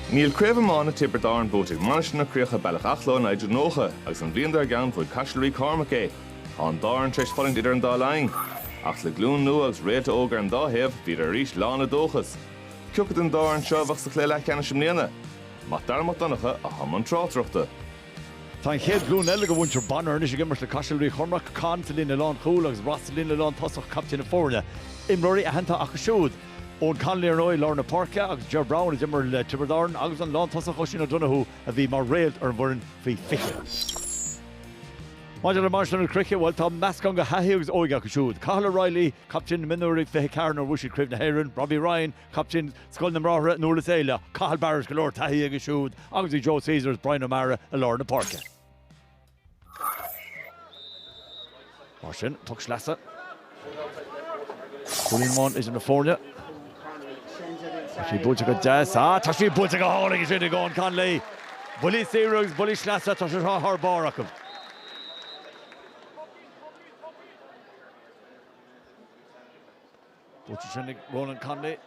Níl Craobh Iomána Tiobraid Árann buaite ag Mainistir na Croiche Bealach Achaille ó 1990 agus an bhliain dár gceann bhuaigh Caiseal Rí Cormac é. Tá an dá fhoireann tar éis fulaingt idir an dá linn. Ach le glún nua agus réalta óga ar an dá thaobh, bhíodar arís lán le dóchas. Cioca den dá fhoireann seo a bheadh sa chluiche leathcheannais i mbliana? Mac Dara Mac Donncha, atá i mbun tráchtaireachta. Tá an chéad ghlúin eile de mhuintir Bonnar anois ag imirt le Caiseal Rí Chormaic, Conn sa líne lánchúil agus Ross sa líne lántosach, caiptín na foirne. Imreoirí aitheanta acu siúd. Eoin Connolly ar ndóigh i lár na páirce agus Ger Browne a d'imir le Tiobraid Árann agus an lántosach Oisín O'Donoghue a bhí mar réalt ar an bhfoireann faoi 20. Maidir le Mainistir na Croiche, bhuel, tá meascán de thaithí agus óige acu siúd. Cathal O'Reilly, captaen na mionúir i 24 nuair a bhuaigh siad Craobh na hÉireann, Robbie Ryan, captaen Scoil na mBráithre i nDúrlas Éile, Cathal Barrett, go leor taithí aige siúd agus beidh Joe Caesar is Bryan O'Mara i lár na páirce. Mar sin, puc sleasa. Cúilín amháin idir na foirne. Tá sí buailte go deas. Á, tá sí buailte go hálainn ansin ag Eoin Connolly. Buillí saoire agus buillí sleasa, tá sé seo thar barr acu. Buailte ansin ag Ronan Connolly.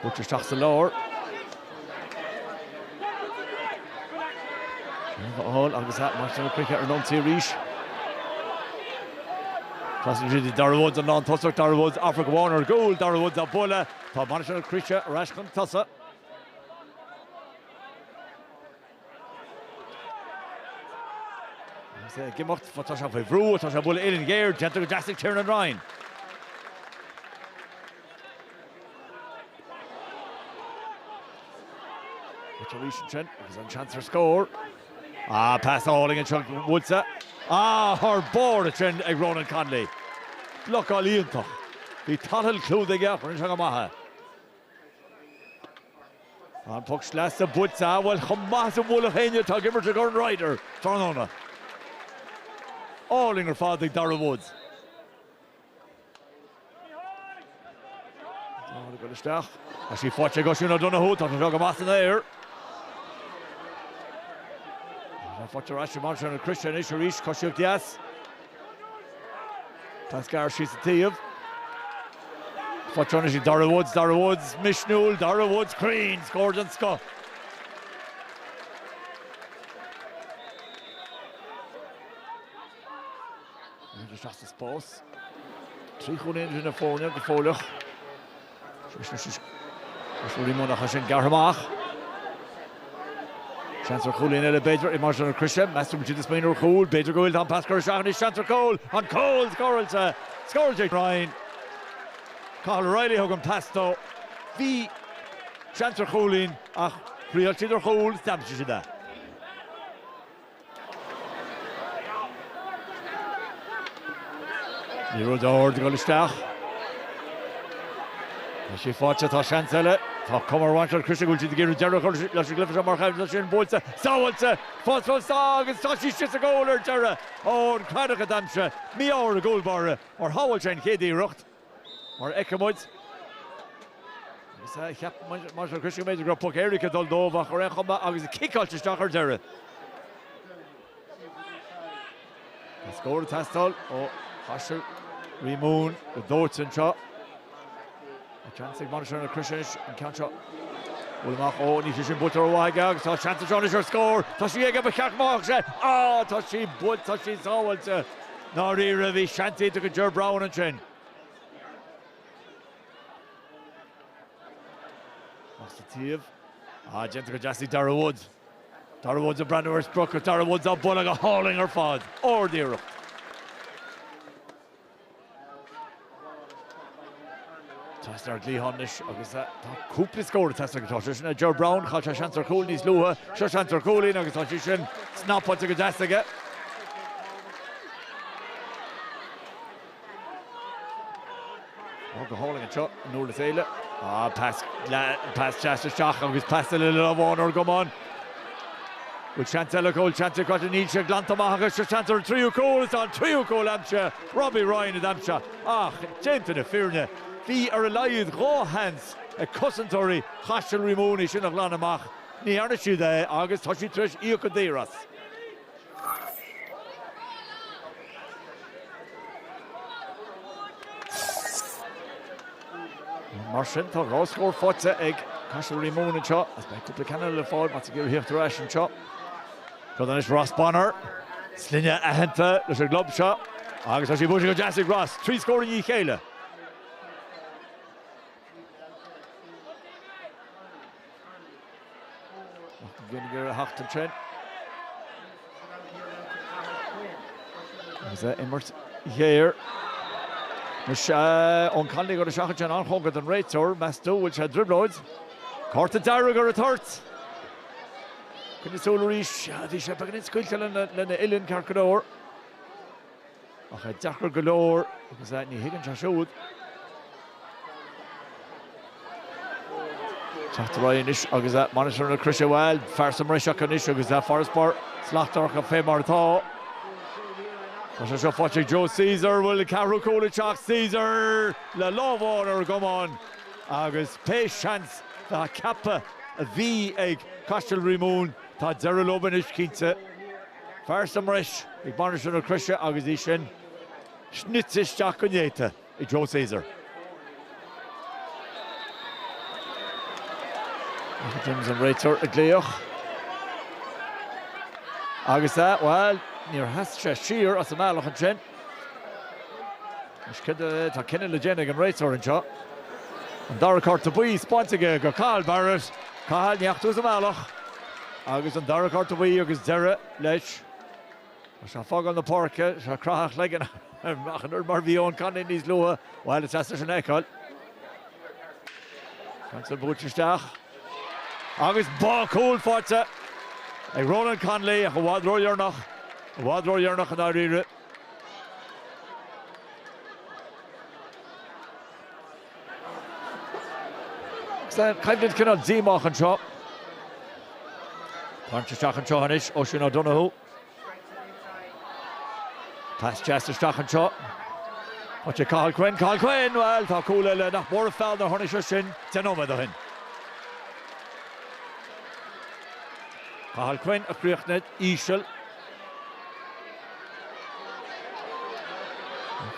Buailte isteach sa lár. Síomha a fháil agus Mainistir na Croiche ar an ionsaí arís. Tá sí ag Darragh Woods, an lán tosach, Darragh Woods, ag féachaint ar an gcúl, Darragh Woods á bualadh. Tá Mainistir na Croiche ar ais chun tosaigh. Is ag imeacht atá sé faoi bhrú, atá sé buille ó uillinn ghéar, déanta go deas ag Tiernan Ryan. Rite arís ansin agus an seans ar scór. Ah, pas álainn anseo buailte. Ah, thar barr ansin ag Ronan Connolly. Blocáil iontach. Bhí Tadhall clúdaithe chun seo go maith. An puc sleasa buailte, bhuel chomh maith is a bhuailfeadh éinne atá ag imirt i gCorn Ryder tráthnóna. Álainn ar fad ag Darragh Woods. Dá chuir a gcuid isteach. Tá sí faighte ag Oisín O'Donoghue. Tá sé seo go maith san aer. Tá sé faighte ar ais ag Mainistir na Croiche anois arís. Coisíocht dheas. Pas gearr síos an taobh. Faighte ansin ag Darragh Woods, Darragh Woods misniúil, Darragh Woods cruinn, scór den scoth. Bhí isteach sa spás. Trí chúilín idir na foirne go fóilleach. Is Ruairí Moore a chaith sin gearrtha amach. Seans ar chúilín eile b'fhéidir ag Mainistir na Croise. Meas tú an bhfuil siad ag smaoineamh ar chúl, b'fhéidir go bhfuil an pas curtha isteach anois seans ar chúl. An cúl scóráilte. Scóráilte Ryan. Cathal O'Reilly a thug an pas dó. Bhí seans ar chúilín ach thriail siad ar chúl, is d'aimsigh siad é. Liathróid ard ag dul isteach. Tá sé faighte, tá seans eile. Tá cuma ar Mhainistir na Croise go bhfuil siad ag iarraidh deireadh a chur leis an gcluiche seo mar tá sé sin buailte, sábháilte, fós beo agus tá sí sa gcúl ar deireadh. Ó, an cladach a d'aimsigh mí-ádh ar an gcúl báire mar shábháil sé an chéad iarracht. Mar a fheicfidh muid, agus a cheap Maitiú Ó Coisdealbha, b'fhéidir go raibh poc éirice ag dul dóibh ach ar aon chuma agus é ciceáilte isteach ar deireadh. Tá scór ag teastáil ó Chaiseal, Rí Mumhan go dóite anseo. Tá seans ag Mainistir na Croise anois an ceann seo a bhualadh amach. Ó, níl sé sin buailte rómhaith aige agus tá seans anseo anois ar scór. Tá sí aige, ba cheart go mbeadh sé. Á! Tá sí buailte, tá sí sábháilte. ndáiríre, bhí seans iontach ag Ger Browne ansin. Ach sa taobh, ah, déanta go deas ag Darragh Woods. Darragh Woods ag breathnú ar sprioc agus Darragh Woods á bualadh go hálainn ar fad. Ard-iarracht. Teastaíonn ár dlíthán anois agus tá cúpla scór ag teastáil acu. Tá sé sin ag Ger Browne, chaill sé seans ar chúl níos luaithe, seo seans ar chúilín agus tá sí sin snapáilte go deas aige. Ó go hálainn anseo in úr le chéile. Á pas pas deas isteach agus pas eile le lámh amháin ar an gcamán. Bhfuil seans eile acu, bhfuil seans acu, níl sé glanta amach acu, seo seans ar an tríú cúl, is tá an tríú cúl aimsithe. Robbie Ryan a d'aimsigh ach, déanta na fírinne, bhí ar a laghad dhá sheans ag cosantóirí Chaiseal Rí Mumhan é sin a ghlanadh amach, ní dhearna siad é agus tá siad tar éis íoc go daor as. Mar sin, tá dhá scór faighte ag Caiseal Rí Mumhan anseo agus beidh cúpla ceann eile le fáil má tá siad ag iarraidh teacht ar ais anseo. Cuireann anois Ross Bonnar sloinne aitheanta leis an gclub seo agus tá sé buailte go deas ag Ross, trí scór i ndiaidh chéile. Martin Gallagher a theacht ansin agus a imirt ghéar. Anois Eoghan Connolly go dtí seachaint sin an-chóngarach don réiteoir, meas tú go bhfuil sé i dtrioblóid. Cárta dearg ar an toirt. Cuimhne súl arís a bhí sé, beagáinín scaoilte lena uillinn, ceart go leor. Ach é deacair go leor agus ní thuigeann sé siúd. Teacht ar aghaidh anois agus Mainistir na Croise, bhuel, fear sa mbreis acu anois agus farasbarr slachtmhar acu fé mar atá. Tá sé seo faighte ag Joe Caesar, bhuel, ceathrú cúl ag teacht, Caesar le lámh amháin ar an gcamán agus pé seans cheapfá a bhí ag Caiseal Rí Mumhan, tá deireadh leo anois, cinnte. Fear sa mbreis ag Mainistir na Croise agus í sin snite isteach go néata ag Joe Caesar. Michael Timms an réiteoir ag glaoch. Agus é, bhuel, níor sheas sé siar as an mbealach ansin. Tá cinneadh le déanamh ag an réiteoir anseo. An dara cárta buí spáinte aige do Cathal Barrett. Cathal, ní ach tú sa mbealach. Agus an dara cárta buí agus deireadh leis. Tá sé ag fágáil na páirce. Tá sé ag craitheadh a chloigeann ach an oiread mar bhí Eoin Connolly níos luaithe. Bhuel, is deas é sin a fheiceáil. Ansin buailte isteach agus bhuel, cúl faighte ag Ronan Connolly ach i bhfad ródhearnach, i bhfad ródheireanach i ndáiríre. San choimhlint cineál díomách anseo. Buailte isteach anseo anois Oisín O'Donoghue. Pas deas isteach anseo. Faighte ag Cathal Quinn. Cathal Quinn, bhuel, tá cúl eile, nach mór an feall nár tháinig sé sin deich nóiméad ó shin. Cathal Quinn a chríochnaigh íseal.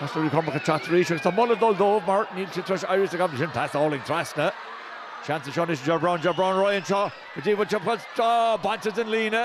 Caiseal Rí Cormac ag teacht arís agus tá moladh ag dul dóibh mar níl siad tar éis éirí as an gcoimhlint sin. Pas álainn trasna. Seans anseo anois, Ger Browne, Ger Browne ar aghaidh anseo go dtí bhaint an phoist. Á, bainte den líne.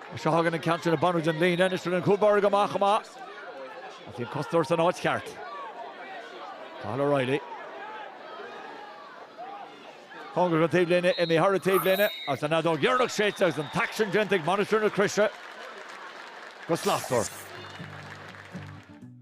Is seo a thagann an ceantar ag beannú den líne anois tá an cúl báire amach chomh maith agus bhí an cosantóir san áit cheart. Cathal O'Reilly. Cóngarach don taobhlíne, imithe thar an taobhlíne agus an fheadóg dheireanach séidte agus an t-aicsean déanta ag Mainistir na Croise go slachtmhar.